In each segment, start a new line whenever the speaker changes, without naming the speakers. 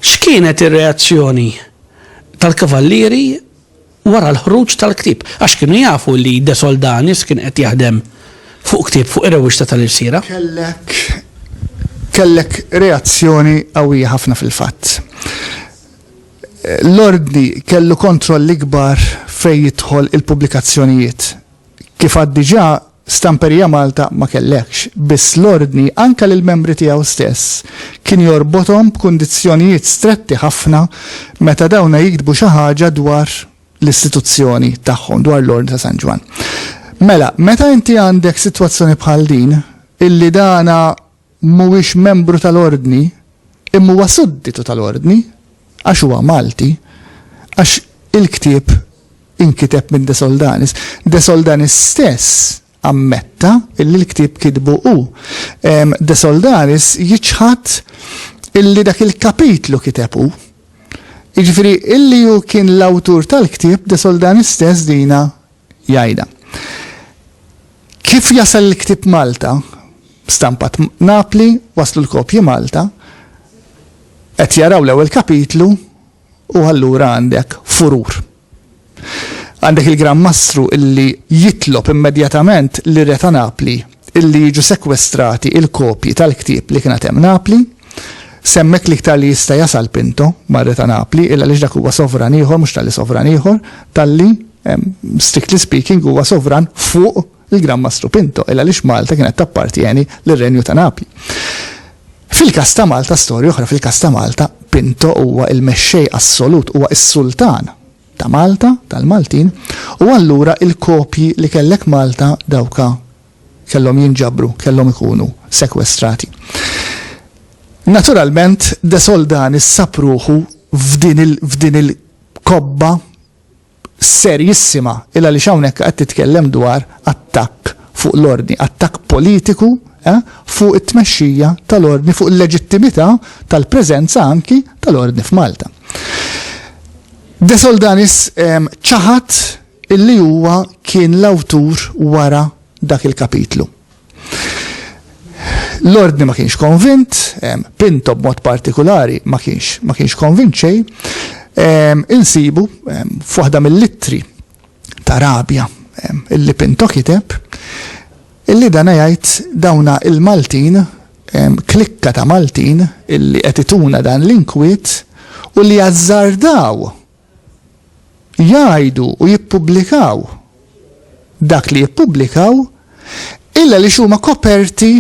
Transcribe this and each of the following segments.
X'kienet ir-reazzjoni tal-kavallieri wara l-ħruġ tal-ktib? Għax kienu jafu li De Soldanis kien qed jaħdem fuq ktib fuq ir-rewwixta tal-irsira. Kellek
kellek reazzjoni qawwija ħafna fil-fatt. L-Ordni kellu kontroll ikbar fejn jidħol il-pubblikazzjonijiet. Kif għad diġà, Stamperija Malta ma kellhekx, biss l-Ordni anke lill-membri tiegħu stess kien jorbothom b'kundizzjonijiet stretti ħafna meta dawna jiktbu xi ħaġa dwar l-istituzzjoni tagħhom, dwar l-Ordni ta' San Ġwann. Mela, meta inti għandek sitwazzjoni bħal din, illi dagħna mhuwiex membru tal-Ordni, imma huwa sudditu tal-Ordni, għax huwa Malti, għax il-ktieb inkiteb minn De Soldanis. De Soldanis stess ammetta illi l-ktieb kitbu hu. De Soldanis jiċħad illi dak il-kapitlu kiteb hu. Jiġifieri illi hu kien l-awtur tal-ktieb De Soldanis stess dina jgħidha. Kif jasal il-ktieb Malta, stampat Napli, waslu l-kopji Malta, qed jaraw l-ewwel kapitlu u allura għandek furur. Għandek il-Gran Mastru illi jitlob immedjatament li re ta' Napli illi jiġu sekwestrati il-kopji tal-ktieb li kien għad hemm Napli. Semmek l-iktar li jista' jasal Pinto mar-Re ta' Napli, illa għaliex dak huwa sovran ieħor, mhux talli sovran ieħor, talli, strictly speaking, huwa sovran fuq il-Gran Mastru Pinto, illa għaliex Malta kienet tappartjeni lir-Renju ta' Napli. Fil-każ ta' Malta, storja oħra, fil-każ ta' Malta, Pinto huwa l-mexxej assolut, huwa s-sultan ta' Malta, tal-Maltin, u allura il-kopji li kellek Malta dawka kellhom jinġabru, kellhom ikunu sekwestrati. Naturalment De Soldani ssab ruħu f'din il-kobba serjissima il għaliex hawnhekk qed titkellem dwar attakk fuq l-ordni, attakk politiku eh, fuq it-tmexxija tal-ordni, fuq il-leġittimità tal-preżenza anki tal-ordni f'Malta. De Soldanis ċaħad illi huwa kien l-awtur wara dak il-kapitlu. L-Ordni ma kienx konvint, Pinto b'mod partikolari ma kienx ma kienx konvint xejn, insibu f'waħda mill-ittri ta' rabja. Illi Pinto kiteb illi dana jgħid dawna il-Maltin, klikka ta' Maltin illi qed ituna dan l-inkwiet u li azzardaw jgħidu u jippubblikaw dak li jippubblikaw illa li huma koperti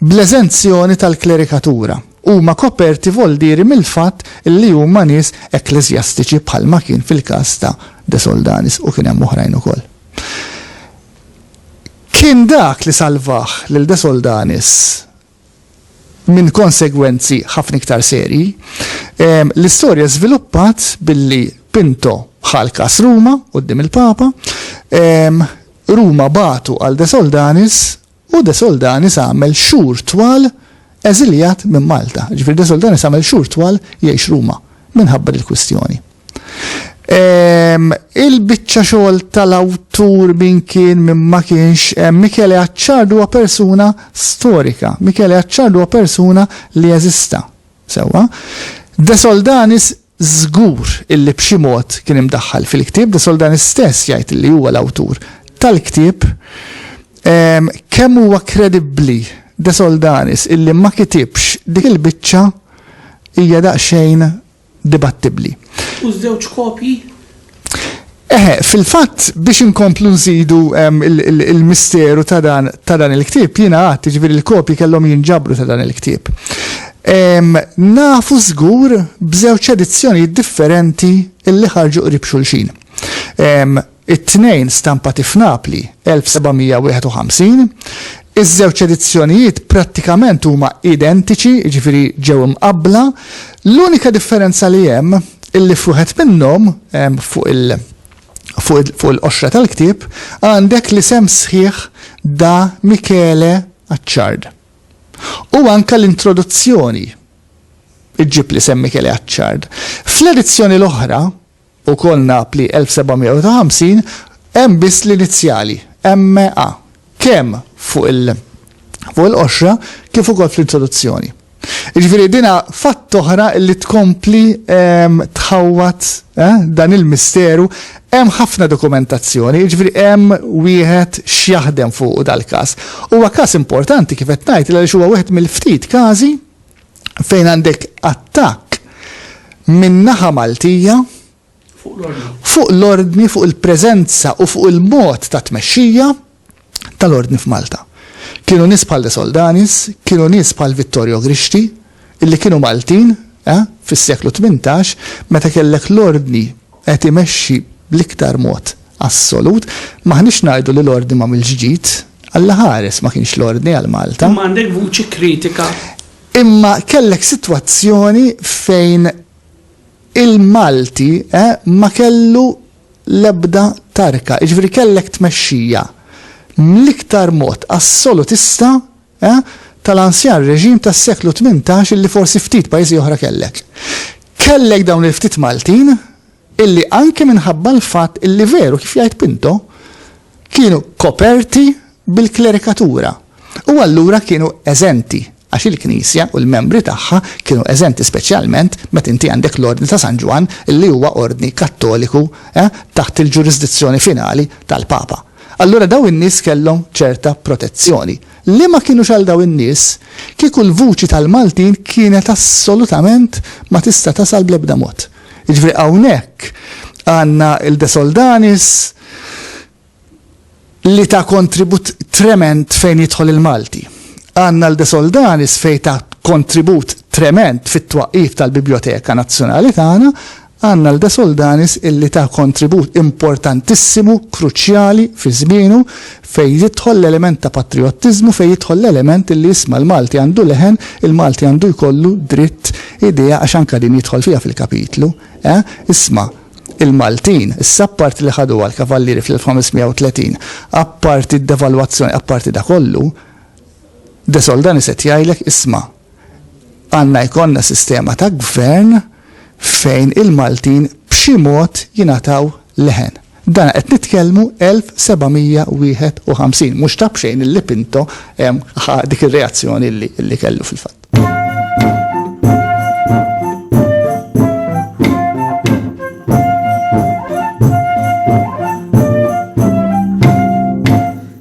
bl-eżenzjoni tal-klerikatura, huma koperti voldieri mill-fatt li huma nies ekkleżjastiċi bħalma kien fil-każ ta' De Soldanis u kien hemm oħrajn ukoll. Kien dak li salvah lil De Soldanis minn konsegwenzi ħafna iktar serji. L-istorja żviluppat billi Pinto ħal kas Ruma quddiem il-Papa, Ruma batu għal De Soldanis U De Soldanis għamel xhur twal eżiljat minn Malta. Jiġifieri De Soldanis għamel xhur twal jgħix Ruma minħabba dil-kwistjoni. Il-biċċa xogħol tal-awtur min kien min ma kienx hemm Michele Acciardi huwa persuna storika. Michele Acciardi huwa persuna li eżista. Sewwa. De Soldanis Żgur illi b'xi mod kien imdaħħal fil-ktieb, de Sol dan istess jgħid illi huwa l-awtur tal-ktieb. Kemm huwa kredibbli de Soldanis illi ma kitibx dik il-biċċa hija daqsxejn dibattibbli. U ż-żewġ
kopji Eħe, fil-fatt
biex inkomplu nżidu ehm, il-misteru ta' dan il-ktieb, jiena għad, ġifieri l-kopji kellhom jinġabru ta' dan il-ktieb. Ehm, nafu żgur b'żewġ edizzjonijiet differenti illi ħarġu qrib xulxin. Ehm, it-tnejn stampati f'Napli 1751, Iż-żewġ edizzjonijiet prattikament huma identiċi, jiġifieri ġew imqabbla, l-unika differenza li hemm illi f'wieħed minnhom, fuq il fuq il-qoxra tal-ktieb, għandek l-isem sħiħ Da Michele Acciard. U anke l-introduzzjoni ġġib l-isem Michele Acciard. Fl-edizzjoni l-oħra, Ukoll Napli 1750, hemm biss l-inizjali, MA, kemm fuq il fuq il-qoxra kif ukoll fl-introduzzjoni. Jiġifieri din fatt oħra li tkompli ehm, tħawwad eh, dan il-misteru, hemm ħafna dokumentazzjoni, jiġifieri hemm wieħed x'jaħdem fuq dal-każ. Huwa każ importanti kif qed ngħid għaliex huwa wieħed mill-ftit każi fejn għandek attakk minn naħa Maltija fuq l-ordni, fuq il-preżenza u fuq il-mod ta' tmexxija tal-ordni f'Malta. Kienu nies bħal De Soldanis, kienu nies bħal Vittorio Grixti, illi kienu Maltin eh, fis-seklu 18 meta kellek l-ordni qed imexxi bl-iktar mod assolut, m'aħniex ngħidu li l-Ordni m'għamilx ġid, Alla ħares ma kienx l-Ordni għal Malta. Imma għandek vuċi
kritika. Imma
kellek sitwazzjoni fejn il-Malti ma kellu l-ebda tarka, jiġifieri kellek tmexxija mill-iktar mod assolutista E, tal-anzjan reġim tas-seklu tmintax illi forsi ftit pajjiżi oħra kellek. Kellek dawn il-ftit Maltin illi anke minħabba l-fatt illi veru kif jgħid Pinto kienu koperti bil-klerikatura u allura kienu eżenti għax il-Knisja u l-membri tagħha kienu eżenti speċjalment meta inti għandek l-Ordni ta' San Ġwann illi huwa ordni Kattoliku eh, taħt il-ġurisdizzjoni finali tal-Papa. Allura dawn in-nies kellhom ċerta protezzjoni. Li ma kinux għal dawn in-nies, kieku l-vuċi tal-Maltin kienet assolutament ma tista' tasal bl-ebda mod. Jiġifieri hawnhekk għandna il-De Soldanis li ta kontribut tremend fejn jidħol il-Malti. Għandna l-De Soldanis fejn ta kontribut tremend fit-twaqqif tal-Bibljoteka Nazzjonali tagħna, Għandna l-De Soldanis illi ta kontribut importantissimu, kruċjali, fi żmienu, fejn jidħol l-element ta' patrijottiżmu, fejn jidħol l-element illi isma' l-Malti għandu leħen, il-Malti għandu jkollu dritt, idea, għax anke din jidħol fiha fil-kapitlu, eh, isma', il-Maltin, issa apparti li ħaduha l-Kavallieri fl-1530, apparti d-devalwazzjoni, apparti da kollu, De Soldanis qed jgħidlek, isma', Għandna jkollna sistema ta' gvern fejn il-Maltin b'xi mod jingħataw leħen. Dan qed nitkellmu 1751, mhux ta' b'xejn li Pinto ħa dik ir-reazzjoni li kellu fil-fatt.